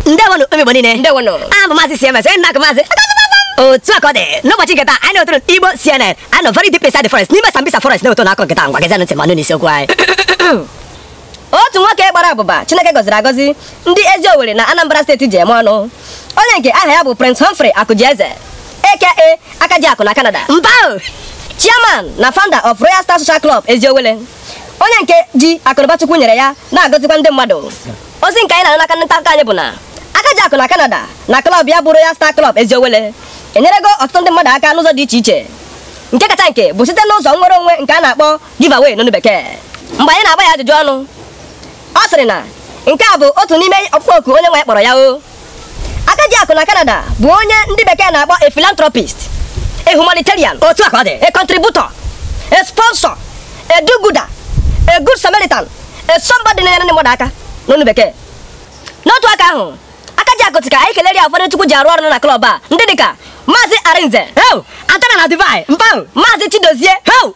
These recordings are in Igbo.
ndewonụ ụmụ igbo niile ndewonụ abụ m maazị cms onye a na-akpọ maazị otu a ka ọ dị n'ụbọchị nke taa anyị na-ewetara igbo cnn anyị nọ very deep inside the forest n'ime sambisa forest na-ewetara unu akụkọ nke taa ngwa gezianụ ntị ma nụ isiokwu anyị otu nwoke gbara abụba chineke gọziri agọzi ndị eziowelle na anambra steeti ji eme ọnụ onye nke aha ya bụ prince humphrey akụjieze aka akajiakụ na canada mba chairman na founder of royal star social club eziowelle onye nke ji akụnụba Chukwu nyere ya na-agọzikwa ndị mmadụ ozi nke anyị na-anụ n'aka ndị nta akụkọ anyị bụ na Akajiakụ na Canada na klọb ya bụ Royal Star Club Eziowelle enyerego ọtụtụ ndị mmadụ aka n'ụzọ dị iche iche nke kacha nke bụ site n'ụzọ nnwere onwe nke a na-akpọ giveaway n'onu bekee mgbe anyị na-agba ya ajụjụ ọnụ ọ sịrị na nke a bụ otu n'ime ọkpụkpọ oku Onyenweanyị kpọrọ ya o Akajiakụ na Canada bụ onye ndị bekee na-akpọ a philanthropist a humanitarian otu a ka ọ dị a contributor a sponsor a do-gooder a good samaritan a somebody na-enyere ndị mmadụ aka n'onu bekee n'otu aka ahụ Akajiakụ sị ka anyị kelere ya ụfọdụ chukwu ji arụ ọrụ na klọb a ndị dịka maazị arinze Heu! Atana na Dubai. Mpao! maazị chidozie Heu!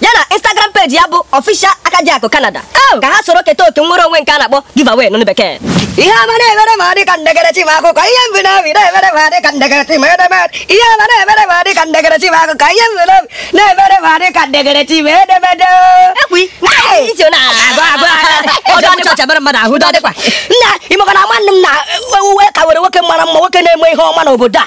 ya na Instagram peji ya bụ Official Akajiakụ Canada oh! ka ha soro keta oke nwere onwe nke a na-akpọ giveaway n'ọnụ bekee ihe ọma na-emere m adị ka m degaara chi m akwụkwọ ihe m bu n'obi na-emere m adị ka m degaara chi m edemede ihe ọma na-emere m adị ka m degaara chi m akwụkwọ ihe m bu n'obi na-emere m adị ka m degaara chi m edemede nna imekọ na nwanne m na uwe ka were nwoke mara mma nwoke na-eme ihe ọma n'obodo a